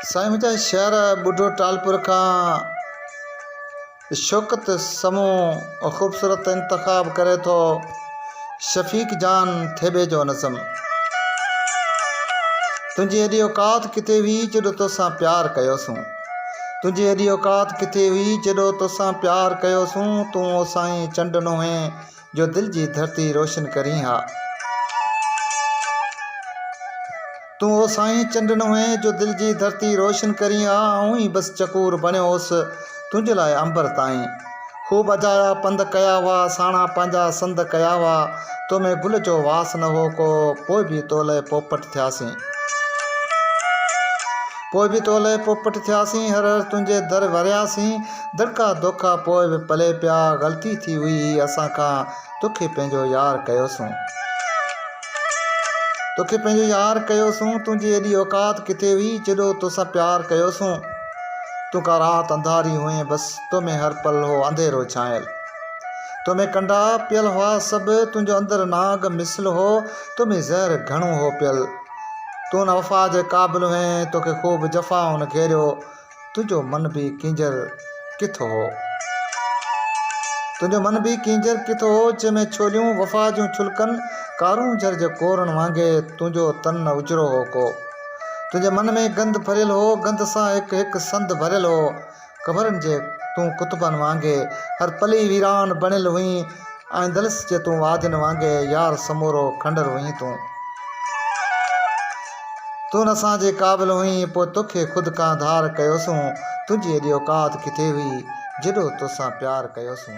سائين منهنجا شعر ٻڍو ٽالپر کان شوڪت سمو خوبصورت انتخاب ڪري ٿو شفيق جان ٿيٻي جو نظم تنهنجي ايڏي اوقات ڪٿي هئي جڏو توسان پيار ڪيو سون تنهنجي ايڏي اوقات ڪٿي هئي جڏو توسان پيار ڪيو سون تون او سائين چنڊ نوهين جو دل جي ڌرتي روشن ڪرين ها. تون او سائين چنڊ نوئين جو دل جي ڌرتي روشن ڪرين ها آئون ئي بس چڪور بڻيو هوس تنهنجي لاء عنبر تائين خوب اجايا پنڌ ڪيا هئا ساڻا پنهنجا سنڌ ڪيا هئا تو ۾ گل جو واس نه هو ڪو پوء به تو لئه پوپٽ ٿياسين پوء به تو لئه پوپٽ ٿياسين هر هر تنهنجي در ورياسين. درکا دوکا پوء به پلئه پيا غلطي ٿي هئي هي اسان کان توکي پنهنجو يار ڪيوسون توکي پنهنجو يار ڪيوسون تنهنجي ايڏي اوقات ڪٿي هئي جيڏو توسان پيار ڪيوسون تون ڪا رات انڌاري هئين بس تو ۾ هر پل هو انڌيرو ڇانيل تو ۾ ڪنڊا پيل هئا سڀ تنهنجو اندر ناگ مثل هو تو ۾ زهر گهڻو هو پيل تون نه وفا جي قابل هئين توکي خوب جفائن گهيريو تنهنجو من به ڪينجهر ڪٿ هو. تنهنجو من به ڪينجهر ڪٿ هو، جنهن ۾ ڇوليون وفا جون ڇلڪن، ڪارون جھر جي ڪورن وانگي تنهنجو تن نه اجرو هو ڪو. تنهنجي من ۾ گند ڀريل هو، گند سان هڪ هڪ سنڌ ڀريل هو. قبرن جي تون ڪتبن وانگي هر پلي ويران بڻيل هئين. آندلس جي تون وادين وانگي يار سمورو کنڊر هئين تون تون اسان جي قابل هئين پوء توکي خود کان ڌار ڪيوسون تنهنجي ايڏي اوقات ڪٿي هئي جيڏو توسان پيار ڪيوسون.